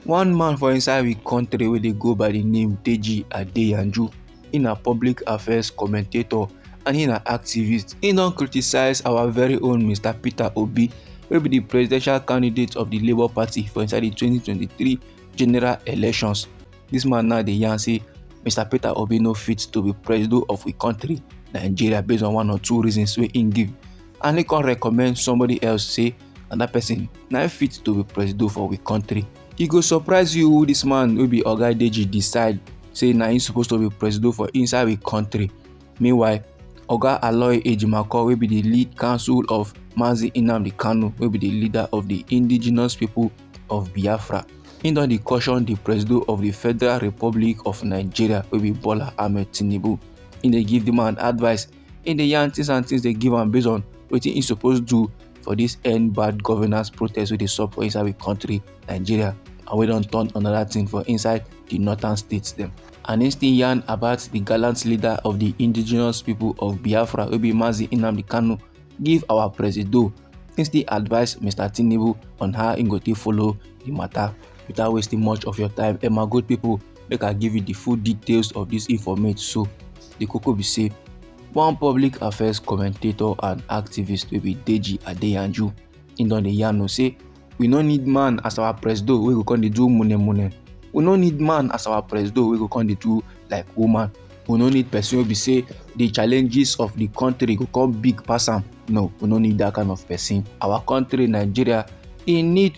One man for inside we country wey dey go by the name Deji Adeyanju, he na public affairs commentator and he na activist. He don criticize our very own Mr. Peter Obi wey be the presidential candidate of the Labour Party for inside the 2023 general elections. This man now dey yarn say Mr. Peter Obi no fit to be president of we country Nigeria based on one or two reasons wey he give and he come recommend somebody else say and that person na im fit to be presido for we country e go surprise you who this man wey be oga deji decide say na im suppose to be presido for inside we country meanwhile oga aloy ejimakor wey be the lead council of mazi nnamdi kanu wey be the leader of the indigenous people of biafra im don dey caution di presido of di federal republic of nigeria wey be bola ahmed tinubu im dey give di man advice He dey yarn things and things dey give am based on wetin he suppose do for this end bad governance protest wey dey sup for inside we country Nigeria and wey don turn another thing for inside the northern states dem. And he still yarn about the gallant leader of the indigenous people of Biafra wey be Mazi Nnamdi Kanu give our presido. He still advise Mr. Tinubu on how he go take follow the matter without wasting much of your time. Emma good people make I give you the full details of this informate so. di koko be say one public affairs commentator and activist wey be deji adeyanju im don dey yarn say we no need man as our presido wey go come dey do mune mune we no need man as our presido wey go come dey do like woman we no need person wey be say the challenges of the country go come big pass am no we no need that kind of person our country nigeria e need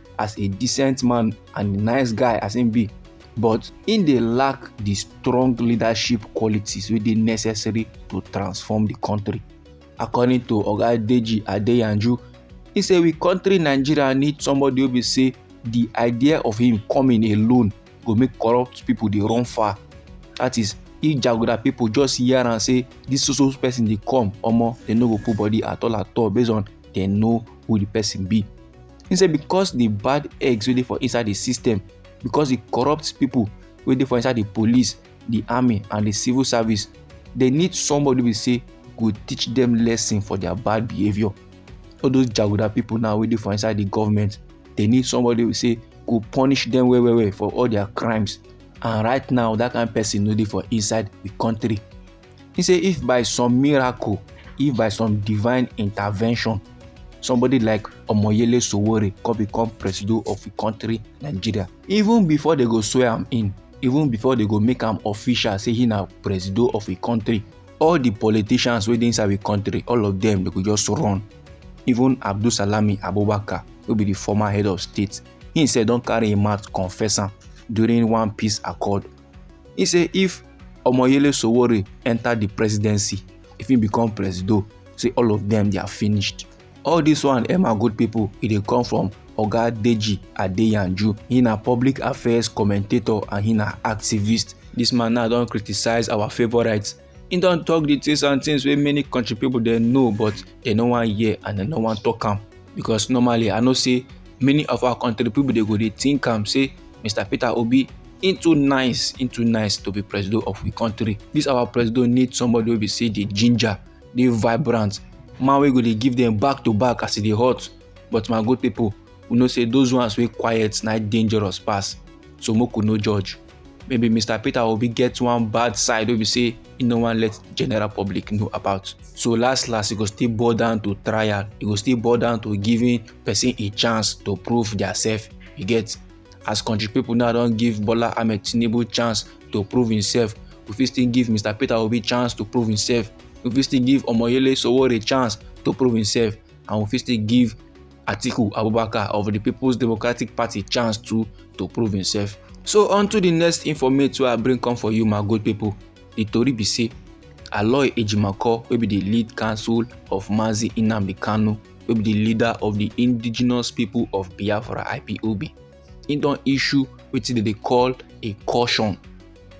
as a decent man and a nice guy as him be but him dey lack the strong leadership qualities wey dey necessary to transform the country according to oga deji adeyanju he say we country nigeria need somebody wey be say the idea of him coming alone go make corrupt people dey run far that is if jaguda people just hear am say this so so person dey come omo dem no go put body at all at all based on dem know who the person be he say because the bad eggs wey dey for inside the system because the corrupt people wey dey for inside the police the army and the civil service they need somebody wey say go teach them lesson for their bad behaviour all those jaguda people now wey dey for inside the government they need somebody wey say go punish them well well well for all their crimes and right now that kind person no dey for inside the country He say if by some miracle, if by some divine intervention, somebody like Omoyele Sowore come become president of the country, Nigeria, even before they go swear am in, even before they go make am official say he na president of the country, all the politicians wey dey inside the country, all of them, they go just run. Even Abdul Salami Abubakar, wey be the former head of state, he said don carry him mouth confess am during one peace accord He say if Omoyele Sowore enter the presidency, if he become presido, say all of them they are finished. All this one, Emma good people, e dey come from Oga Deji Adeyanju. He na public affairs commentator and he na activist. This man now don criticize our favourites He don talk the things and things wey many country people dey know but they no wan hear and they no wan talk am because normally I know say many of our country people dey go dey think am say Mr. Peter Obi he too nice he too nice to be president of the country this our president need somebody wey be say dey ginger dey vibrant man wey go dey give them back to back as e dey hot but my good people we know say those ones wey quiet na dangerous pass so make we no judge. maybe mr peter obi get one bad side wey be say e no wan let general public know about so last last e go still boil down to trial e go still boil down to giving person a chance to prove theirself you get as country people now don give bola ahmed tinubu chance to prove himself we fit still give mr peter obi chance to prove himself we fit still give omoyele sowore chance to prove himself and we fit still give Atiku Abubakar of the People's Democratic Party chance too to prove himself. So on to the next informate wey I bring come for you my good people. The tori be say Aloy Ejimakor wey be the lead counsel of Mazi Nnamdi Kanu wey be the leader of the Indigenous People of Biafra IPOB he don issue wetin dem dey call a caution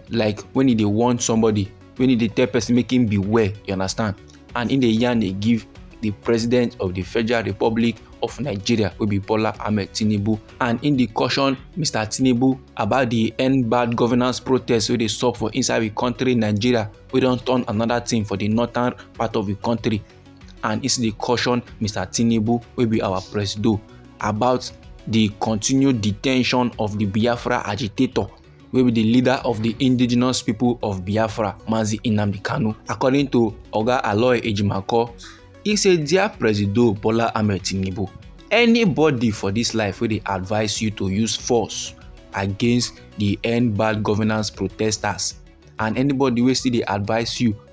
like when he dey warn somebody when he dey tell person make him beware you understand and he dey yarn dey give the president of the federal republic of nigeria wey be bola ahmed tinubu and he dey caution mr tinubu about the end bad governance protest wey dey sup for inside the country nigeria wey don turn another thing for the northern part of the country and e still dey caution mr tinubu wey be our presido about di continued detention of di biafra agitator wey be di leader of di indigenous pipo of biafra mazi nnamdi kanu according to oga aloy ejimakor e say dia presido bola ahmed tinubu anybody for dis life wey dey advise you to use force against di end bad governance protesters and anybody wey still dey advise you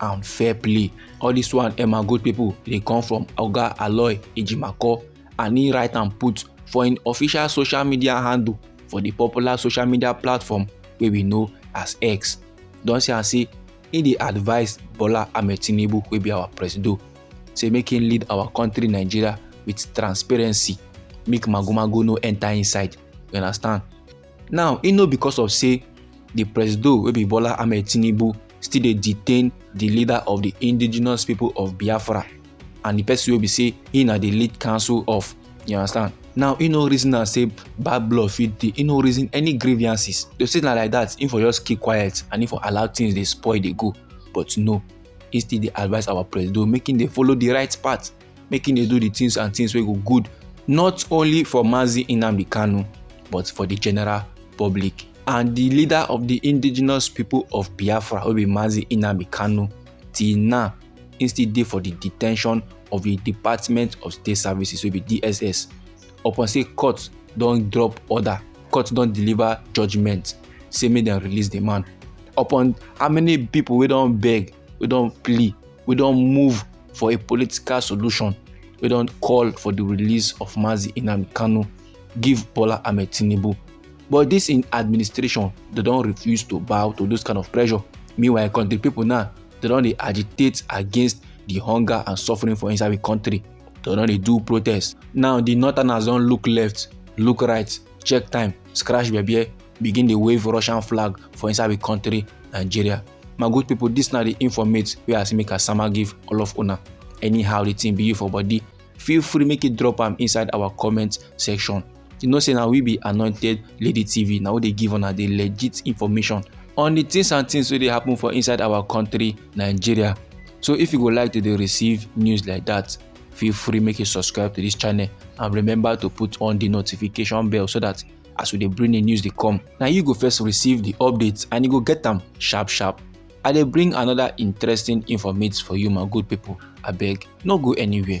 and fair play all this one emma good people dey come from oga aloy ejimakor and he write am put for im official social media handle for di popular social media platform wey we know as x don say am say he dey advise bola ahmed tinubu wey be our presido say make him lead our country nigeria with transparency make magomago no enter inside you understand now e no because of say di presido wey be bola ahmed tinubu still dey detain di leader of di indigenous people of biafra and di person wey be say he na di lead council of you understand now e no reason am say bad blood fit dey e no reason any grievances to say na like that im for just keep quiet and im for allow things dey spoil dey go but no he still dey advise our presido make im dey follow the right path make him dey do the things and things wey go good not only for Mazi Nnamdi Kanu but for the general public and the leader of the indigenous people of Biafra wey be Mazi Nnamdi Kanu till now he still dey for the detention of the Department of State Services wey be DSS upon say court don drop order court don deliver judgement say make dem release the man upon how many people wey don beg we don plea we don move for a political solution we don call for the release of mazi inam kanu give bola ahmed tinubu but this in administration they don refuse to bow to those kind of pressure meanwhile country people now they don dey agitate against the hunger and suffering for inside the country they don dey do protest now the northerners don look left look right check time scratch bebe begin dey wave russian flag for inside the country nigeria my good people this na the informate wey i see make i sama give all of una anyhow the thing be you for body feel free make you drop am inside our comment section you know say na we be anointed lady tv na we dey give una the legit information on the things and things wey dey happen for inside our country nigeria so if you go like to dey receive news like that feel free make you subscribe to this channel and remember to put on the notification bell so that as we dey bring the news dey come na you go first receive the updates and you go get am sharp sharp i dey bring another interesting informate for you my good people abeg no go anywhere.